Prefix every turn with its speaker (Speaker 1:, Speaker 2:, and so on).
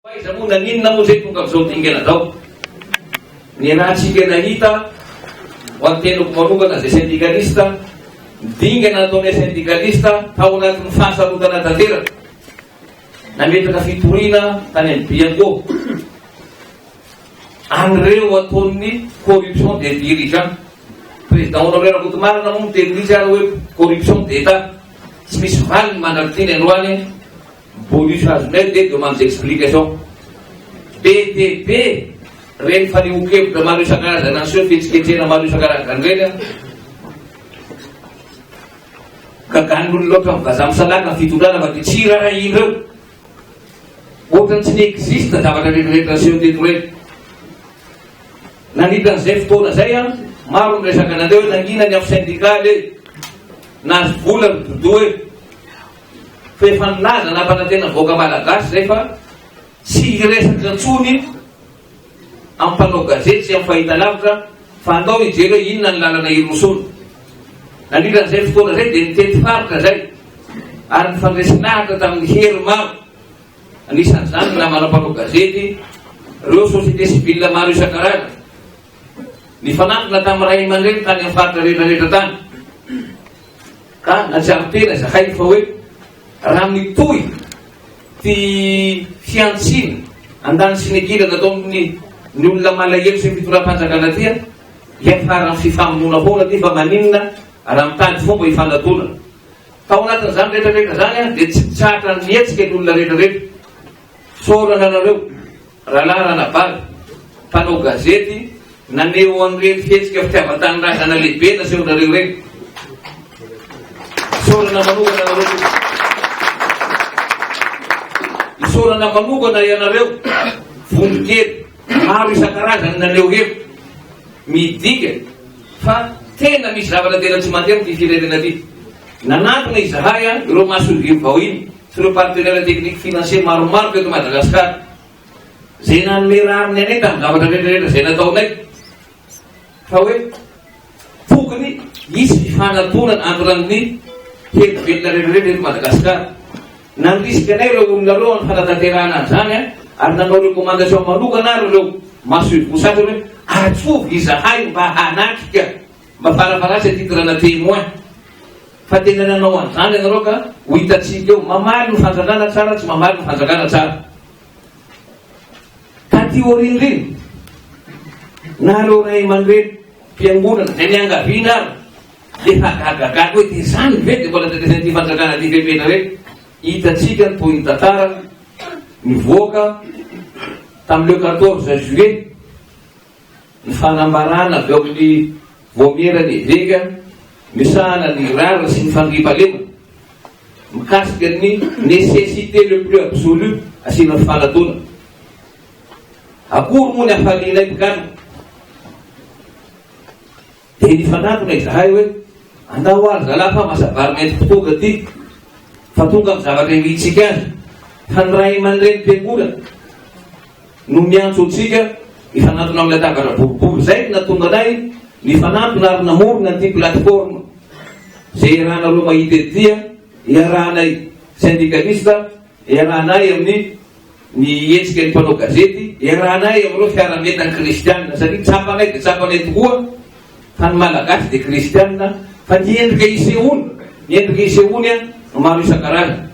Speaker 1: Aiza moa naninona moa izay tonga amin'izao dingana izao? Ny ratsika nahita ho an'ny tenako manokana izay syndikalista, ny dingana nataonay syndikalista tao anatin'ny fahasarotana tanteraka. Nametraka fitoriana tany amin'ny Bianco an'ireo ataon'ny corruption des dirigeants. Président Honoraire Rakotomarina moa miteny mihitsy ary hoe corruption d'Etat. Tsy misy valiny mandrak'iteny aloha any eh. Bonus azonay dia demande d'explication. Be dia be ireny fanehoan-kevitra maro isan-karazana aseho, fihetsiketsehana maro isan-karazany ireny an. Gagan'ny olona loatra ny vazaha misalaka ny fitondrana fa dia tsy irarahiana eo. Ohatrany tsy ni-existe zavatra rehetrarehetra niseho teto ireny. Nanita an'izay fotoana izay an, maro ny resaka nandre hoe nangina ny afo syndicale e, nahazo vola ny bodo e. Fa efa nilaza nampanantena vahoaka malagasy izay fa tsy hiresaka intsony amin'ny mpanao gazety sy amin'ny fahitalavitra fa andao hijery hoe inona ny lalana hirosoana. Nandritra an'izay fotoana izay dia nitety faritra izay ary nifandresy lahatra tamin'ny hery maro, anisan'izany ny namana mpanao gazety, ireo société civile maro isan-karazany. Nifanantona tamin'ny ray aman-dreny tany amin'ny faritra rehetrarehetra tany. Ka najaly tena zakay fa hoe raha mitohy ty fihantsiana andanisinegira nataon'ny ny olona malahelo sy ny fitondram-panjakana ty an, hiafaran'ny fifamonoana foana ty fa maninona raha mitady fomba hifanadona. Tao anatin'izany rehetra rehetra izany an dia tsy tratra nihetsika ny olona rehetra rehetra. Fisaorana anareo. Rahalahy Ranabary, mpanao gazety, naneho an'ireny fihetsika fitiavan-tanindrazana lehibe nasehonareo ireny. Isaorana manokana anareo tompoko. Isaorana manokana ianareo vondron-kely maro isan-karazany naneho hevitra. Midika fa tena misy zavatra tena tsy mandeha amin'ity firenena ity. Nanantona izahay ireo mason-jiro vao iny. sy ireo partenaires techniques financiers maromaro teto Madagasikara izay nanome rariny anay tamin'ny zavatra rehetrarehetra izay nataonay fa hoe tokony hisy fifanatonana entre an'ny hery velona rehetrarehetra eto Madagasikara. Nandrisika anay ireo olona ireo amin'ny fanatanterahana an'izany an, ary nanao recommandation manokana ary ireo masoivoho sasany hoe atsovy izahay mba hanatrika Mba farafaransa ity toerana témoin fa tena nanao an'izany ianareo ka ho hitantsika eo. Mamaly ny fanjakana tsara tsy mamaly ny fanjakana tsara. Taty aoriana ireny na ireo ray aman-dreny mpiangonana izay niangaviana ary efa gagagaga hoe dia izany ve dia mbola tetezan'ity fanjakana ity fepetra hoe hitantsika ny tohin'ny tantara mivoaka tamin'ileo 14 juillet Ny fanambarana avy ao amin'ny Vaomieran'ny Eveka misahana ny rariny sy ny fandriampahalemana mikasika ny nécessité le plus absolu asiana fifanatona. Akory moa ny hafalianay mpigadra? Dia nifanantona izahay hoe, Andao ho'a ry zalahy fa masa-bary mety ho tonga ity, fa tonga amin'ny zavatra irintsika azy, fa ny ray aman-dreny mpiangola no miantso antsika hifanantona amin'ny latabatra boribory. Izay no nahatonga anay nifanantona ary namorona an'ity plateforme izay iarahanareo mahita ety dia iarahanay syndikalista iarahanay amin'ny Ny hetsika ny mpanao gazety, iarahanay amin'ireo fiaraha-mientan'ny kristiana, satria tsapanay dia tsapanay tokoa fa ny Malagasy dia kristiana, fa ny endrika isehoany, ny endrika isehoany no maro isan-karazany.